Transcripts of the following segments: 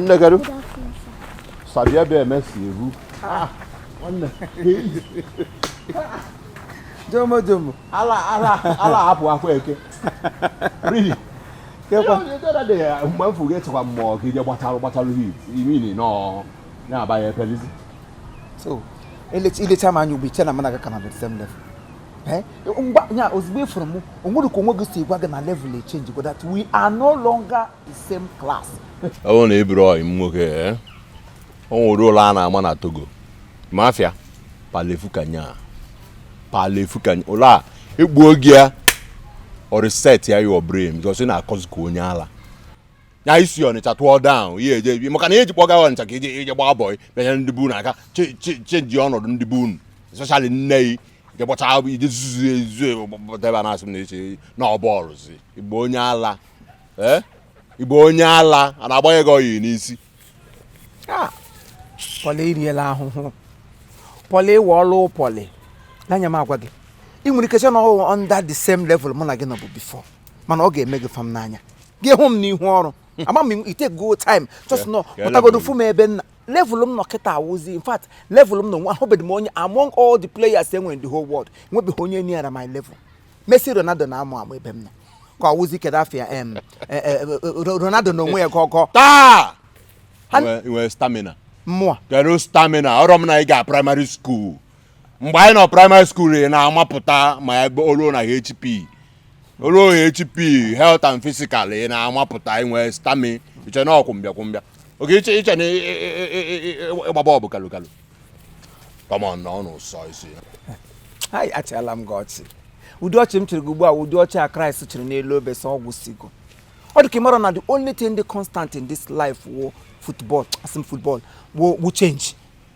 nne kedu sabia bịa eme si eru ah, jomo jomo ala ala ala hapụ akwa eke really kekwa mgbe mfu gị chekwa mmụọ gị je gbatalụ gbatalụ hit imini nọ na-aba ya epelizi so ilecha m anya ugbu a iche na mụ na gị ka nọ the same level Eh? ngwa ya ozugbo ịfụrụ m onwere ka onwe gị si gwa gị na level echangego that we are no longer the same class. ọ bụrụ na ị bụrụ ọyị m nwoke eh? o nwere ụla a na-ama na Togo mafia palefukanya palefukanya ụla egbuo gị ya ọ resetia your brain because ị na-akọzi ka onye ala ya isi ọnịcha tụọ down ihe eje ebi maka na eji kpọga ọnịcha ka ije ije gbaa bọị bịa nye ndị be unu aka change ọnọdụ ndị be unu especially nne yi je gbọcha ije zuzu ezu debe na asị m na eche na ọ bọọlụzi ị bụ onye ala ee ị bụ onye ala a na-agbanye gị oyi n'isi pọlị iriela ahụhụ pọlị ịwa ọlụ pọlị n'anya m agwa gị ị nwere ike sị na ọ wụ under the same level mụ na gị nọbu before mana ọ ga-eme gị fam n'anya gị hụ m n'ihu ọrụ ama m ite go time just nọ pụtagodo fụ m ebe nna level m nọ kịta awụzi in fact level m nọ nwa ahụbeghị m onye among all the players enwere in the whole world enwebeghị onye neara my level Messi Ronaldo na-amụ amụ ebe m nọ ka awụzi kedu afa ya em e, e, e, Ronaldo na onwe ya gọgọ taa i nwee stamina mmụọ kedu stamina ọrọ m na ị ga primary school mgbe anyị nọ primary school ị na-amapụta ma ebe olu na HP olu HP health and physical ị na-amapụta inwe stamina iche na ọkwụ mbịa kwụ mbịa oge iche iche na ịgba bọọl bụ kalu kalu come on nọ n'ụsọ isi hai achịala m gị ọchị ụdị ọchị m chịrị gị ugbu a ụdị ọchị a Christ chịrị n'elu obe sị ọ gwụsịgo ọ dị ka ịmara na the only thing dị constant in this life wụ football asị m football wụ wụ change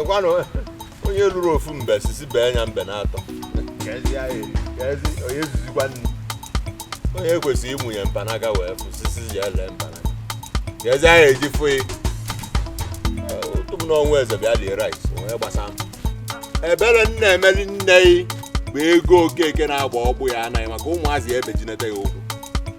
ekwanụ onye lụrụ ofu mbe sisi bee ya mbe na-atọ onye zuzikwa nri onye kwesịrị ịmụnye mpanaka wee fụ sisi ji ele mpanaka ka ezi ahụ eji fụ ya otu m n'ọnwa eze bịa lie rice onwe gbasa m ebere nna emeli nne yi bụ ego okeke na-agba ọgbụ ya anaghị maka ụmụazị ya ebejinete ya ụkwụ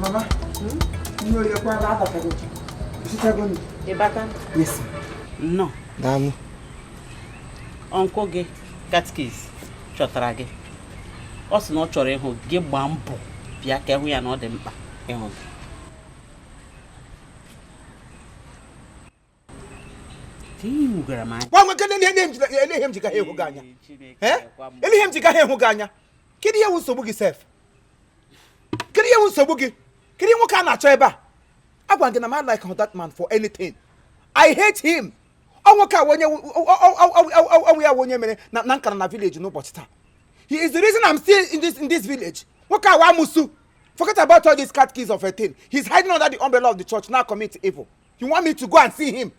Mama, nne oyi ekwe ala abatago gị. I sichago nri. Ị bata? Yes. Nnọọ. Daalụ. Uncle gị catechist chọtara gị. Ọ sị na ọ chọrọ ịhụ gị gbaa mbọ bịa ka ị hụ ya na ọ dị mkpa ịhụ gị. gwa nwoke na elee ihe m ji ga ịhụ gị anya elee ihe m ji ga ịhụ gị anya kedu ihe wụ nsogbu gị sef kedu ihe wụ nsogbu gị kedu ihe nwoke a na-achọ ebe a agwa gị na m like that man for anything i hate him ọ nwoke a onye ọ wụ ya wụ onye mere na m kara nọ village n'ụbọchị taa he is the reason i'm still in this in this village nwoke a wụ amusu Forget about all these catechist of a thing. He's hiding under the umbrella of the church na-acommit evil. You want me to go and see him?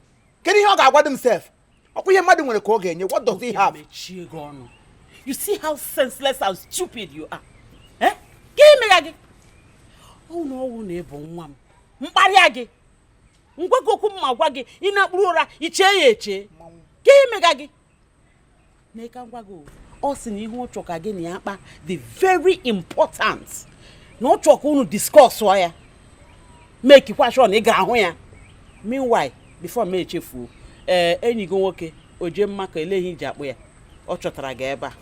Kedu ihe ọ ga-agwadụ m sef? ọkwa ihe mmadụ nwere ka ọ ga-enye what does he have? mechie gị ọnụ you see how senseless and stupid you are eh? ka imegha gị ọ wụghị na ị bụ nwa m m kparịa gị m gwa gị okwu m ma gwa gị ị nakpuru ụra i chee ya eche ka imegha gị ọ sị na ihe ọ chọ ka gị na ya kpaa dị very important na ọ chọ ka unu discuss ya make kwa sure na ị gara hụ ya meanwhile before m echefuo ee eh, enyi gị nwoke Ojemba ka elee ihe e ji akpọ ya ọ chọtara gị ebe a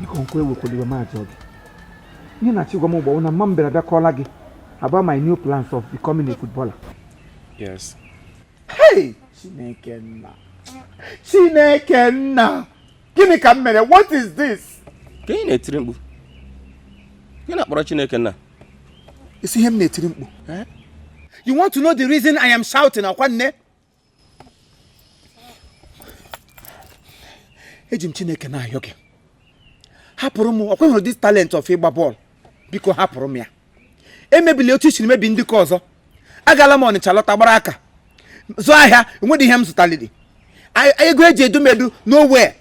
biko nkwe ewekwala iwe ma m jụọ gị ihe ị na-achọ ịgwa m ugbu a wụ na mma m bịara bịa kọọla gị about my new plans of becoming a footballer yes hey chineke nna chineke nna gịnị ka m mere what is this ka ị na-etiri mkpu gị na-akpọrọ chineke nna ị sị ihe m na-etiri mkpu eh? you want to know the reason i am shouting akwa nne eji m chineke na-ayọ gị hapụrụ m ọkwa ị hụrụ this talent of ịgba bọọlụ biko hapụrụ m ya emebila otu i siri mebie ndị nke ọzọ agala m ọnịcha lọta gbara aka zụọ ahịa enweghị ihe m zụtaliri ego e ji edu m edu nowhere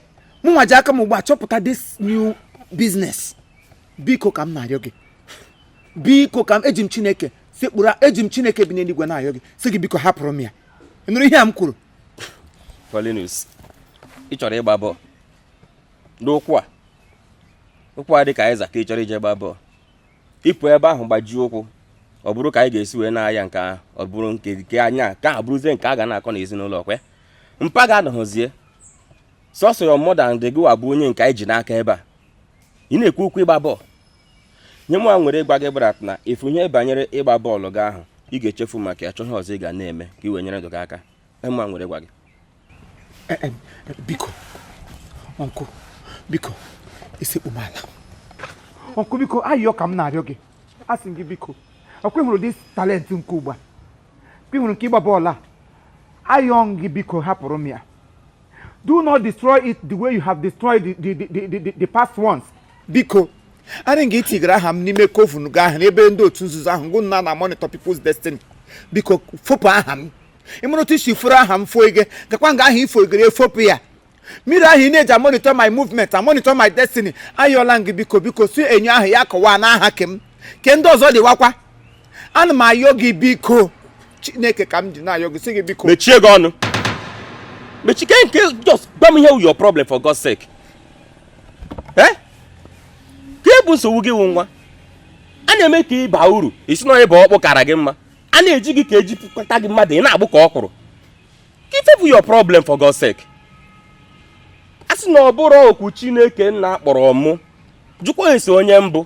mụ nwa ji aka m ugbu a chọpụta this new business biko ka m na-ayọ gị biko ka m eji m chineke sekpụrụ eji m chineke bi n'eluigwe na-ayọ gị sị gị biko hapụrụ m ya ị nụrụ ihe a m kwuru Paulinus ị chọrọ ịgba bọọlụ n'ụkwụ a ụkwụ a dị ka azịza ka ị chọrọ iji gba bọọlụ ị pụọ ebe ahụ gbajie ụkwụ ọ bụrụ ka anyị ga-esi wee na-aya nke ahụ ọ bụrụ nke nke anya nke ahụ bụrụzie nke a ga na-akọ n'ezinụlọ ọkwa mpa gị anọhọzi sọsọ ya mọda na gịwa bụ onye nke anyị ji n'aka ebe a ị na-ekwu okwu ịgba bọọlụ ihe mụwa nwere ịgwa gị bụ that na ị fụ ihe banyere ịgba bọọlụ gị ahụ ị ga-echefu maka ya chọọ ihe ọzọ ị ga na-eme ka ị wee nyere ndụ gị aka ihe mụwa nwere ịgwa gị eh, eh, eh, biko uncle biko isekpu m ala uncle biko ayịyọ ka m na-arịọ gị asị gị biko ọ kwa ị hụrụ this talent nke ugbu a ị hụrụ nke ịgba bọọlụ a ayọ m gị biko hapụrụ m ya Do not destroy it the way you have destroyed the, the, the, the, the, the past ones. Biko, anyị nga i tigara aha m n'ime coven gị ahụ n'ebe ndị otu nzuzo ahụ gụ na ha na monitor people's destiny biko fopụ aha m ị maara otu i si furu aha m foige gakwa nga ahụ i foigere e fopụ ya mmiri ahụ ị na-eji amonitor my movement amonitor my destiny ayọọla m gị biko biko sị enyo ahụ ya kụwaa n'aha ke m ke ndị ọzọ dịwakwa ana m ayọ gị biko chineke ka m ji na-ayọ gị sị gị biko mechie gị ọnụ mechike nke just gwa m ihe wu your problem for God's sake eh kee bụ nsogbu gị wụ nwa a na-eme ka ị baa uru ị sị na onye bụ ọkpụ kara gị mma a na-eji gị ka eji pụkọta gị mmadụ ị na-agbụ ka ọkwụrụ kee ife bụ your problem for God's sake a sị na ọ bụrụ okwu chineke nna kpọrọ mụ jụkwa esi onye mbụ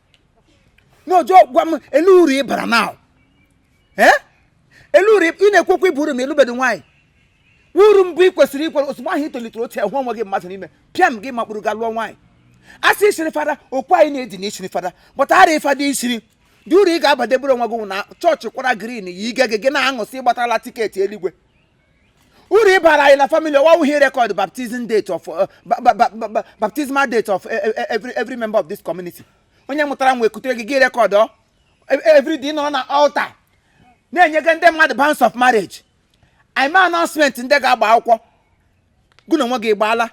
n'ojo gwa m ele uru ị bara now eh? ele uru ị na-ekwu okwu ịba uru ma ị lụbedo nwaanyị uru mbụ ị kwesịrị ikwere ozugbo ahụ ị tolitere otu a hụ onwe gị mmadụ n'ime pịam gị makpụrụ gaa lụọ nwaanyị a sị i siri fada okwu anyị na-edi na i siri fada but ara ị fada i siri dị uru ị ga-abadebere onwe gị na chọọchị kwara green yiige gị gị na-aṅụ sị ị gbatala tiketi eluigwe uru ị bara anyị na family ọwa wụ ihe record baptism date of uh, baptismal date of e, e, e, every every member of this community onye mụtara nwa ekutere gị gị record ọ every day nọ na altar na-enyega ndị mmadụ banns of marriage ị mee announcement ndị ga-agba akwụkwọ gụ na onwe gị ị gbaala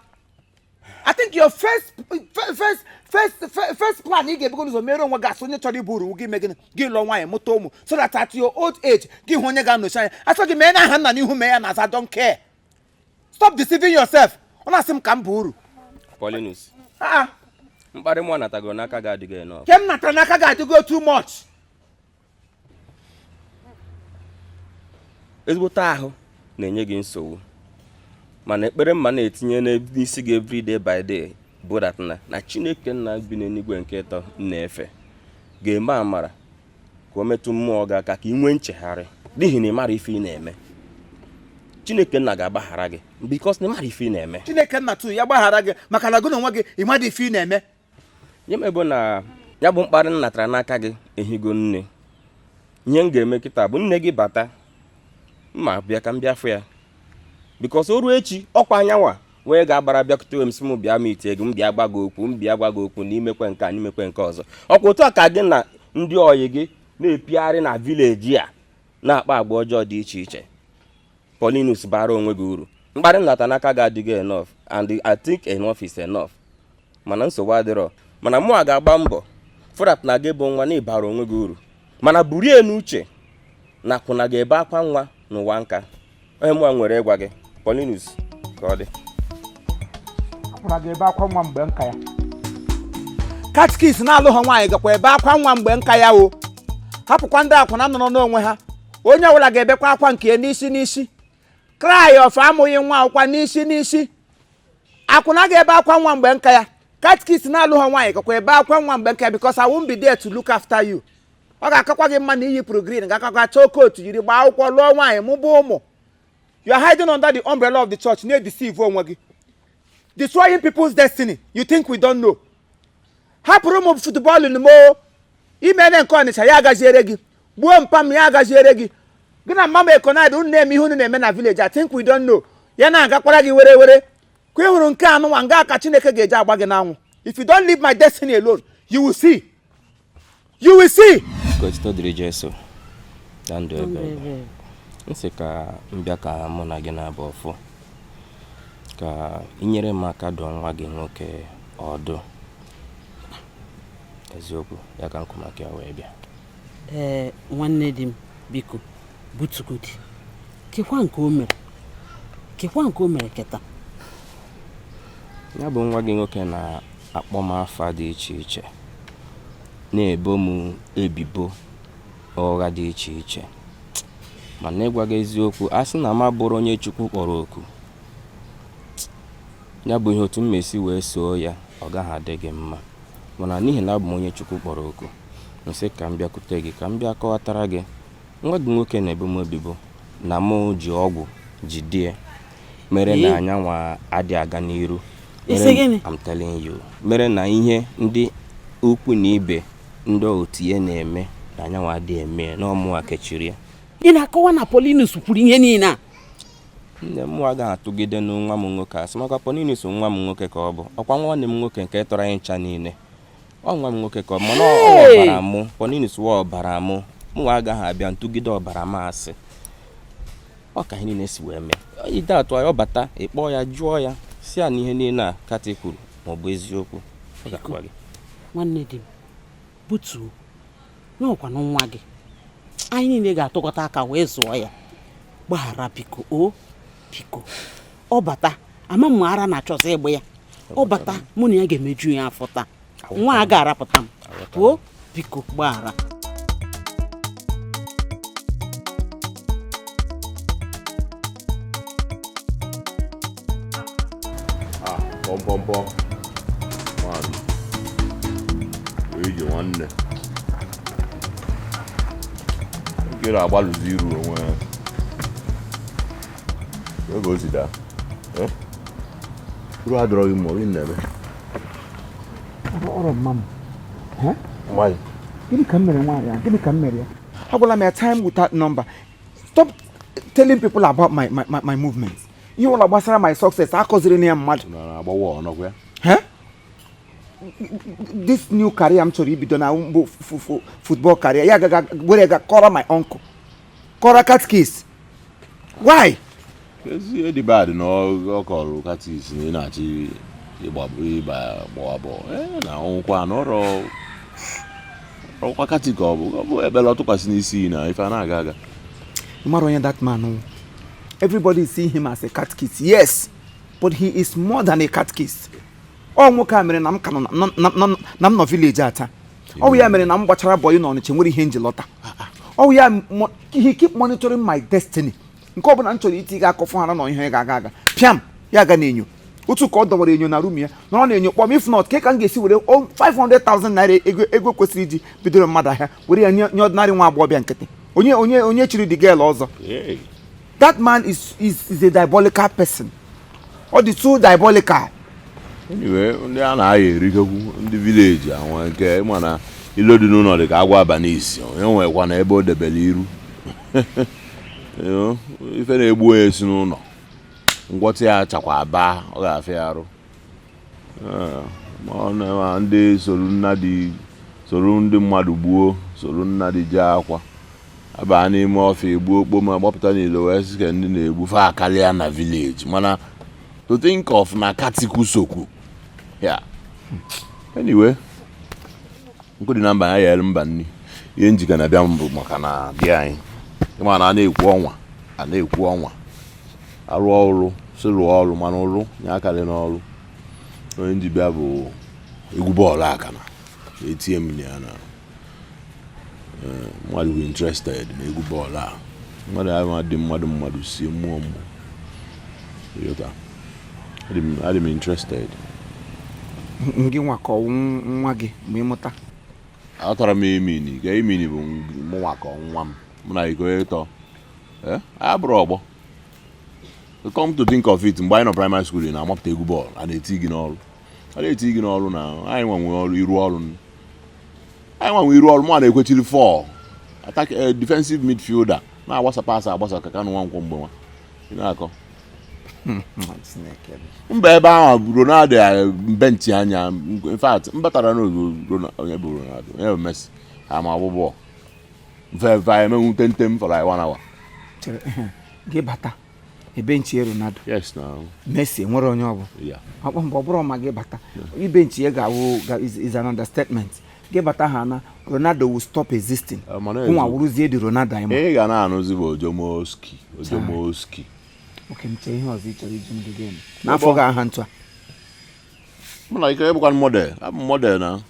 I think your first first first first, first plan ị ga-ebugo ụzọ mere onwe gị a sị onye chọrọ ịba uru gị mee gịnị gị lụọ nwaanyị mụta ụmụ so that at your old age gị hụ onye ga-anọchi anya a sị gị mee n'aha nna n'ihu i mee ya n'azụ don't care stop deceiving yourself ọ na-asị m ka m baa uru Paulinus Ah, mkparị mụ anatago n'aka gị adịgo enough ke m natara n'aka gị adịgo too much ezigbote ahụ na-enye gị nsogbu mana ekpere mụwa na-etinye n'isi gị every day by day bụ that na na chineke nna bi n'eluigwe nke ịtọ na-efe ga-eme amara ka o metụ mmụọ gị aka ka ị nwee nchegharị n'ihi na ị marọ ife ị na-eme chineke nna ga-agbaghara gị because na ị marọ ife ị na-eme chineke nna tu ya gbaghara gị maka na gị na onwe gị ị marọ ife ị na-eme nye m ebe na ya bụ mkparị m natara n'aka gị ehigo nne ihe m ga-eme kịta bụ nne gị bata m abịa ka m bịa fụ ya because o ruo echi ọkwa ya nwa wee ga-agbara bịakwute m sị m bịa m tie gị m bịa gwa gị okwu m bịa gwa gị okwu na i mekwe nke a na i mekwe nke ọzọ ọkwa otu a ka gị na ndị oyi gị na-epigharị na village a na-akpa agwa ọjọọ dị iche iche Paulinus bara onwe gị uru mkparị m nata n'aka gị adịgo enough and I think enough is enough mana nsogbu adịrọ mana mụwa ga-agba mbọ fụ that na gị bụ nwa na ị baara onwe gị uru mana burie n'uche na akwụna ga-ebe akwa nwa n'ụwa nka ọ ihe mụwa nwere ịgwa gị Paulinus ka ọ dị akwụna ga-ebe akwa nwa mgbe nka ya catechist na-alụhọ nwaanyị gakwa ebe akwa nwa mgbe nka ya o hapụkwa ndị akwụna nọrọ n'onwe ha onye ọbụla ga-ebekwa akwa nke ya n'isi n'isi cry of amụghị nwa bụkwa n'isi n'isi akwụna ga-ebe akwa nwa mgbe nka ya catechist na-alụhọ nwaanyị gakwa ebe akwa nwa mgbe nka ya because I won't be there to look after you ọ ga-akakwa gị mma na i yipụrụ green ga-akakwa chọọ coat jiri gbaa akwụkwọ lụọ nwaanyị mụba ụmụ you are hiding under the umbrella of the church na-edeceive onwe gị destroying people's destiny you think we don't know hapụrụ m football n'mo imene nke ọnịcha ya agaziere gị gbuo mpa m ya agaziere gị gị na mama ekonad unu na-eme ihe unu na-eme na village i think we don't know ya na-agakwara gị were were ka ị hụrụ nke anwụ nwa nga ka chineke ga-eji agba gị n'anwụ if you don't leave my destiny alone you will see you will see m sị ka m bịa ka mụ na gị naabọ fụ ka i nyere m aka dụọ nwa gị nwoke ọdụ eziokwu ya ka m kwọ maka ya wee bịa ee nwanne di m biko butugodi kekwa nke o mere kekwa nke o mere kịta ya bụ nwa gị nwoke na-akpọ m afa dị iche iche na-ebo m ebibo ụgha dị iche iche mana ịgwa gị eziokwu a sị na m abụrọ onye chukwu kpọrọ oku ya bụ ihe otu m ma-esi wee soo ya ọ gaghị adị gị mma mana n'ihi na abụ m onye chukwu kpọrọ oku m sị ka m bịakwute gị ka m bịa kọwatara gị nwa gị nwoke na-ebo m ebibo na mụ ji ọgwụ jide ya mere na ya nwa adị aga n'iru ị sị mere gịnị? I'm telling you mere na ihe ndị ukwu na ibe ndị otu ya na-eme na ya nwa adị eme ya, na ọ mụwa kechiri ya ị na-akọwa na Paulinus kwuru ihe niile a nne m agaghị atụgide nwa m nwoke asị maka Paulinus nwa m nwoke ka ọ bụ ọkwa nwanne m nwoke nke tọrọ anyị ncha niile ọ nwa m nwoke ka ọ mana ọ ọbara mụ Paulinus wụ ọbara mụ mụnwa agaghị abịa tụgide ọbara m asị ọ ka ihe niile si wee mee ide atụ ya ọ bata ị kpọọ ya jụọ ya sị ya na ihe niile a kati kwuru ma ọ bụ eziokwu ọ ga-agwa gị nwanne di m butuo na ọ kwanụ nwa gị anyị niile ga-atụkọta aka wee zụọ ya gbaghara biko o biko ọ bata ama m ara na-achọzi ịgba ya ọ bata mụ na ya ga-emeju ya afọ taa nwa a ga-arapụta m o biko gbaghara bọmbọmbọ nwaanyị wee ije nwanne nkere agbalụzi iru onwe ya gịnị ka m mere nwaanyị a gịnị ka m mere ya agwala m ya time without number stop telling people about my my my, my movement ihe ọwụla gbasara my success akọzirina ya mmadụ this new career m chọrọ ibido na football career ya gaga were ga kọrọ my uncle kọrọ catechist why is it bad na ọ kọrọ catechist na ị na-achọ ịgbabụ ịba gbawa bọl ee na ọ wụkwa n'ọrụ ọkwa katik ọ bụ ọ bụ ekpele ọ tụkwasị n'isi na ife a na-aga aga ị mara onye that man wụ everybody see him as a catechist yes but he is more than a catechist ọ nwoke a mere na m ka nọ na- na- na- na m nọ village a taa ọ wụ ya mere na m gbachara boy na Ọnịcha nwerọ ihe m ji lọta ọ wụ ya he keep monitoring my destiny nke ọbụla m chọrọ itiga aka ọ fụ hara na ihe ga-aga aga pịam ya gaa n'enyo otu ka ọ dọwara enyo na room ya nọrọ n'enyo kpọọ m if not ka ka m ga-esi were 500,000 naira ego ego kwesịrị iji bidoro mmadụ ahịa were ya nye ordinary nwa agbọghọbịa nkịtị onye onye onye street girl ọzọ that man is is is a diabolical person ọ dị too diabolical anyway ndị a na-aya erikekwu ndị village anwa nke ị ma na ilo dị n'ụlọ dị ka agwọ aba n'isi onye nwekwa na ebe o debere iru ife na-egbu onye si n'ụlọ ngwọta ya chakwa aba ọ ga-afịa arụ ndị soro nnadị soro ndị mmadụ gbuo soro nnadị jee akwa abaa n'ime ọfịa egbuo okpoma gbapụta n'ilo wee sị ka ndị na-egbu fa akarịa na village mana to think of na katik sokwu ya anyway nkụ dị na mba na-eyere mba nri ihe m ji ka na-abịa bụ maka na di anyị ị ma na a na-ekwu ọnwa a na-ekwu ọnwa arụ ọrụ si rụọ ọrụ mana ọrụ na-akarị n'ọrụ ihe m ji bịa bụ egwu bọọlụ akana na-etinye m na ya na eh, mmadụ bụ interested na egwu bọọlụ a mmadụ ahụ adị mmadụ mmadụ sie mmụọ mmụọ ịghọta adị m- adị m interested ngị nwa ka ọ wụ nwa gị ma ị mụta atara m emini ka emini bụ mụnwa ka nwa m mụ na iko ịtọ Eh, abụrụ ọgbọ come to think of it mgbe anyị nọ primary school na-amapụta egwu bọọlụ a na-eti gị n'ọrụ a na-eti gị n'ọrụ na anyị nwanwe ọrụ iru ọrụ anyị nwanwe iru ọrụ mụ na-ekwechiri four attack eh, defensive midfielder na-agbasa pasị agbasa ka Kanu Nwankwo mgbe nwa na-akọ mba ebe ahụ Ronaldo eh, m benchi anya in fact m batara na onye bụ Ronaldo onye bụ Messi ha ma agba bọọlụ veva emenwu tentem for like one hour chere ehe, gị bata e benchie ronaldo yes now messi nwere onye ọ bụ ya ọkpọ mgbe ọ bụrụ ma gị bata ị benchie ga-awụ ga- is- is an understatement gị bata ha na ronaldo will stop existing Eh, mana ezi- nwa wụrụzie the Ronaldo anyị ma ị ga na-anụzi bụ ojomoski ojomoski okay m chee ihe ọzọ ị chọrọ iji ndụ gị eme na-abụghị aha ntụ a mụ nwe ike ịbụkwa model abụ m model na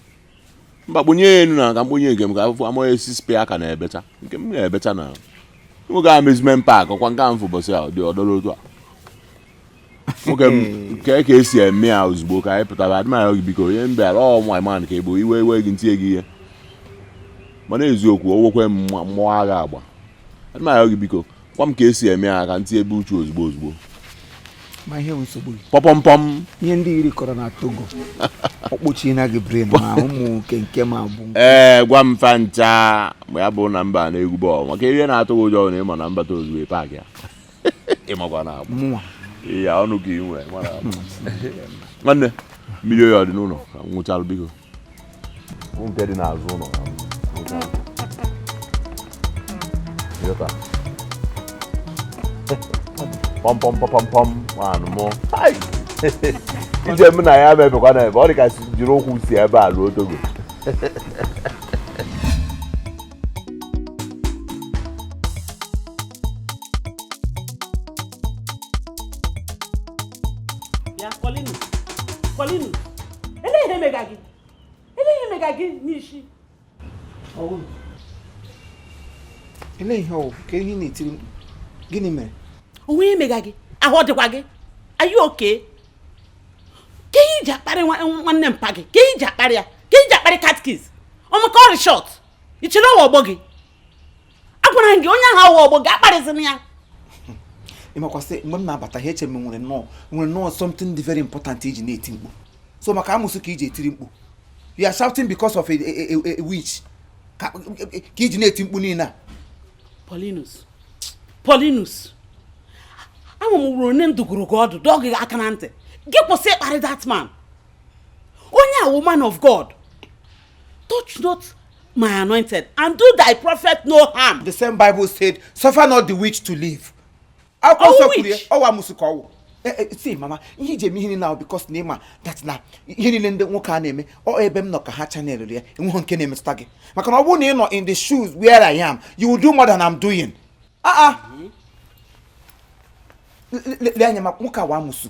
mba kponye ya enu na ka m kponye nke m ka afụfụ amaghị esi spe aka na-ebecha nke m na-ebecha na nwoke amusement park ọkwa nke ahụ ụbọchị a dị ọdọrọ otu a nwoke m nke ka esi eme ya ozugbo ka anyị pụtara adị m arịọ gị biko onye m bịara ọ nwa man ka ị bụ iwe iwe gị ntinye gị ihe mana eziokwu o nwekwe mmụọ agha agba adị m arịọ gị biko Gwa m ka esi eme ya ka m tiebe uchu ozugbo ozugbo. Ma ihe nsogbu gị. Pọpọmpọm. Ihe ndị iri kọrọ na Togo. Ọkpọchie na gị brain ma ụmụ nke nke ma bụ. Ee, gwa m fa ncha ma ya bụ na mba na egwu bọọlụ maka ihe na-atụ gị ụjọ na ị ma na m bata ozugbo ị paakị ya. Ị makwa na abụ. Mụnwa. Iya ọnụ ka ị nwee. Nwanne, mmiri oyi ọ dị n'ụlọ? Nwụchalụ biko. nke dị n'azụ ụlọ pọmpọmpọpọmpọm ngwanụ mụ ije m na ya mebekwa na ebe ọ dị ka jiri ụkwụ si ebe a ruo togo ele ihe mega gị ele ihe mega gị n'isi ele ihe ọ wụ kee ihe ị na-etiri mkpu gịnị mere o nwe ihe mega gị ahụ ọ dịkwa gị are you okay kee ihe i ji akparị nwanne mpa gị kee ihe i ji akparị ya kee ihe i ji akparị katkiz ọmaka ọrị short i chere ọ wụ ọgbọ gị agwara m gị onye ahụ awụ ọgbọ gị akparịzina ya ị makwa sị mgbe m na-abata ha eche m nwere nnọọ nwere nnọọ something dị very important i ji na-eti mkpu so maka amusu ka i ji etiri mkpu you are shouting because of a, a, a, a witch ka ka i ji na-eti mkpu niile a Paulinus Paulinus ama m wụrụ onye ndụgoro gị ọdụ dọọ gị aka na ntị gị kwụsị ịkparị that man onye a wụ man of God touch not my anointed and do thy prophet no harm. the same bible said suffer not the witch to live. akwụkwọ nsọ kwuru ya ọ wụ amusu ka ọ wụ. Eh, eh, see mama ihe i ji eme ihe niile ahụ because na ị ma that na ihe niile ndị nwoke a na-eme ọ ebe m nọ ka ha channel ya enweghị nke na-emetụta gị maka na ọ bụrụ na ị nọ in the shoes where I am you will do more than I'm doing. aa ah, ah. lee anya ma nwoke a wụ amusu.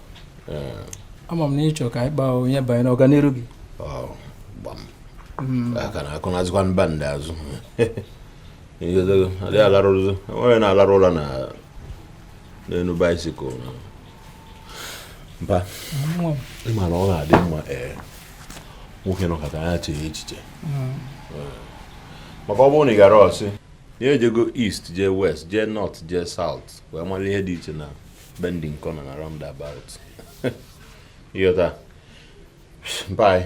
ama m na ị chọ ka anyị kpaa onye banye n'ọganiru gị hmm. aka na akụ na-azụkwa mba ndị azụ adịghị alarụzi onye na-alarụ ụla na n'elu bicycle mba ị ma na ọ ga-adị mma ee nwoke nọkata ya chee echiche hmm. maka ọ bụrụ na ị gara ọ sị ya ejego east jee west jee north jee south wee mara ihe dị iche na bending corner na roundabout ịghọta mpai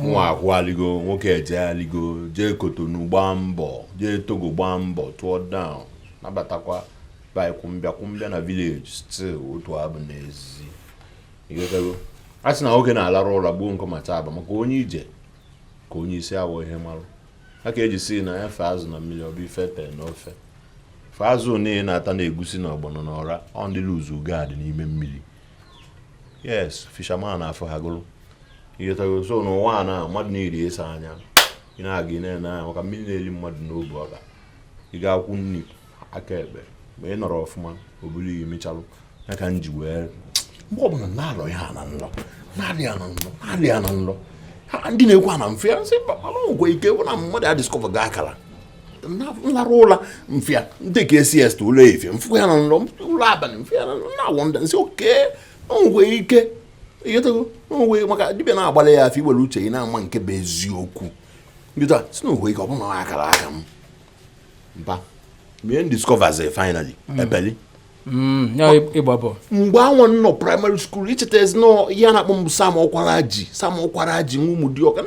nwa akwaligo nwoke ejealigo jee Cotonou gbaa mbọ jee Togo gbaa mbọ tụọ down nabatakwa by kwụmbịa kwụmbịa na village still otu abụ n'ezi ịghọtago a sị na nwoke na-alarụ ụra gbuo nkọ ma taa aba maka onye ije ka onye isi awọ ihe marụ a ka e ji sị na efe azụ na mmiri ọ bụ ife ete na ofe fe azụ niile na-ata na egusi na ọgbọnọ na ọra ọ ndị loose guard n'ime mmiri yes fisherman afụ ha gụrụ ịghọtago so n'ụwa a na mmadụ na-elezi anya ị na-aga ị na-ene anya maka mmiri na-eri mmadụ n'obu ọka ị gaa aka nri aka ekpe ma ị nọrọ ọfụma obulu ya emechalụ ya ka m ji wee mgbe ọbụla na-alọ ya na nlọ na-alị ya na nlọ na-alị ya na nlọ ndị na-ekwu ana mfe ya sị ngwe ike bụ na mmadụ ya discover ga akara m larụ ụla m fụ ya ndị ka siesta ụla efifie m fụkwa ya na nlọ ụla abalị m fụ ya na-wonder m sị okay ngwe ike ịghọtago ngwe maka dibịa na-agbalị ya afa i were uche ị na-ama nke bụ eziokwu ndị taa sị na ngwe ike ọ bụrụ na akara aka m mba mgbe m discovers finally mm. ebeli mm, mgbe anwa nọ primary school i chetazinụ ihe a na-akpọ m Sam Okwaraji Sam Okwaraji nwa Ụmụdịọka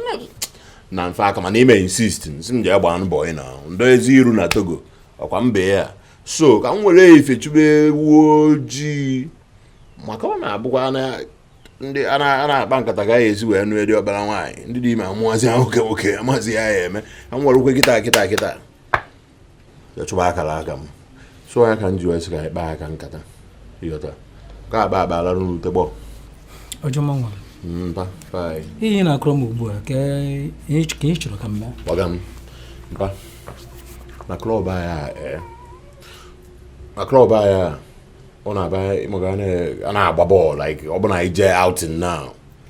na mfe aka mana i mee insist sị m jee gbaa mbọ ị na ndọ ezi iru na Togo ọkwa mba ya so ka m were ife chụbe ewu ojii maka ọ na-abụkwa na ndị a na-akpa nkata ga ya ezi wee nụ eri ọbara nwaanyị ndị dị ime amụazị ahụ nwoke nwoke amazị ya ya eme ka m were ụkwụ kịta kịta kịta ya chụba akara aka m so ya ka m ji wee sị ka anyị kpaa aka nkata ịghọta ka akpa akpa alarụ n'ute gbọ mpa ihe na-akọrọ m ugbu a ka ị chọrọ ka m mee ngwa gwa m mpa na klọb anyị a eh. na klọb anyị a ọ na-abụ ịmago a na-agba bọọlụ like ọ bụ na ije outing now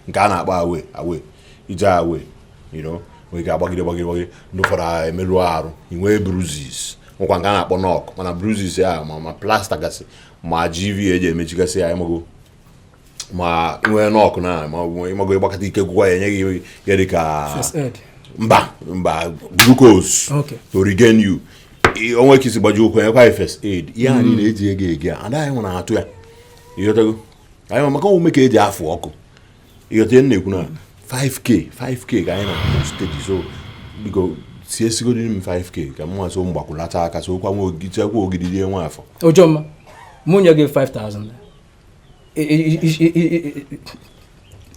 nke a na-akpọ away away ije away you know nwere ike agbagide gbagide gbagide ndị ụfọdụ emerụ arụ inwee bruises nwekwa nke a na-akpọ knock mana bruises ya ma ma plaster gasị ma gv eji emechigasị ya ịmago ma nwee knock na ma ịmago ịgbakọta ike gwụkwa ya enye gị ihe dị ka mba mba glucose to regain you o nwee ka i si gbajie ụkwụ enyekwa first aid ihe anyị hmm. na-eji ego ihe a anaghị nwere atụ ya ịghọtago anyị ma maka ọ bụ ume ka eji afụ ọkụ ịghọta ihe na-ekwu na 5k 5k ka anyị na-akpọ stage so biko si esigodo m 5k ka m nwa so mgbakwụlata aka so kwa nwa ogidi nwa afọ ojoma mụ nye gị 5000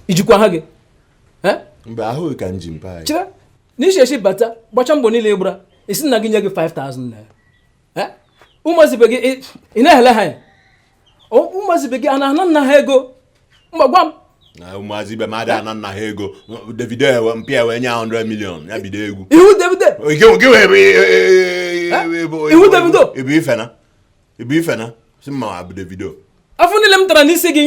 ijikwa ha gị mgbe ahụghị ka nji mpa anyị chere na ị si ezi bata gbacha mbọ niile ị gbara ị sị nna gị nye gị 5000 naira ụmụazị ibe gị ị na-ehele ha anya ụmụazị ibe gị ha na-ana nna ha ego ngwa gwa m ụmụazị ibe m ada ana nna ha ego davido ewe mpa ya wee nye 100 million ya bido egwu ị wụ davido ị wụ davido ibu ife na ibu ife na si mma abụ davido afụ niile m tara n'isi gị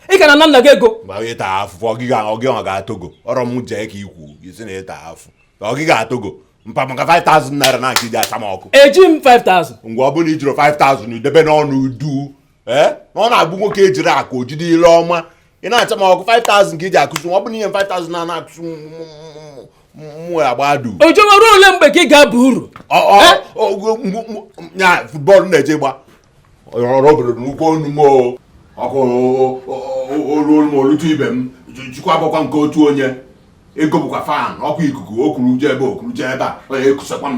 ị ka na-ana nna gị ego mgbe onye taa afụ ọgịga ọgịga ga-atogo ọrọ m jee ka ikwu isi na ịta afụ ọgịga atogo mpa maka 5000 naira ka ị ji acha m ọkụ eji m 5000 ngwa ọ bụrụ ị jirọ 5000 ị debenụ ọnụ duu ee na ọ na-abụ nwoke ejirọ akụ o jide ile ọma ị na-acha m ọkụ 5000 ka iji akụzi ọ bụ na ihe 5000 na ana akụzi mụ agbadu ojoma ruo ole mgbe ka ị ga-aba uru ya futbọọlụ ị na-eje agba ọrụ obodo n'ụkwụ onu m ọkụ olu m olutu ibe m jikwa agbakwa nke otu onye ego bụkwa fan o ku ikuku o kuru jee ebe o kuru jee ebe a onye ekusakwa m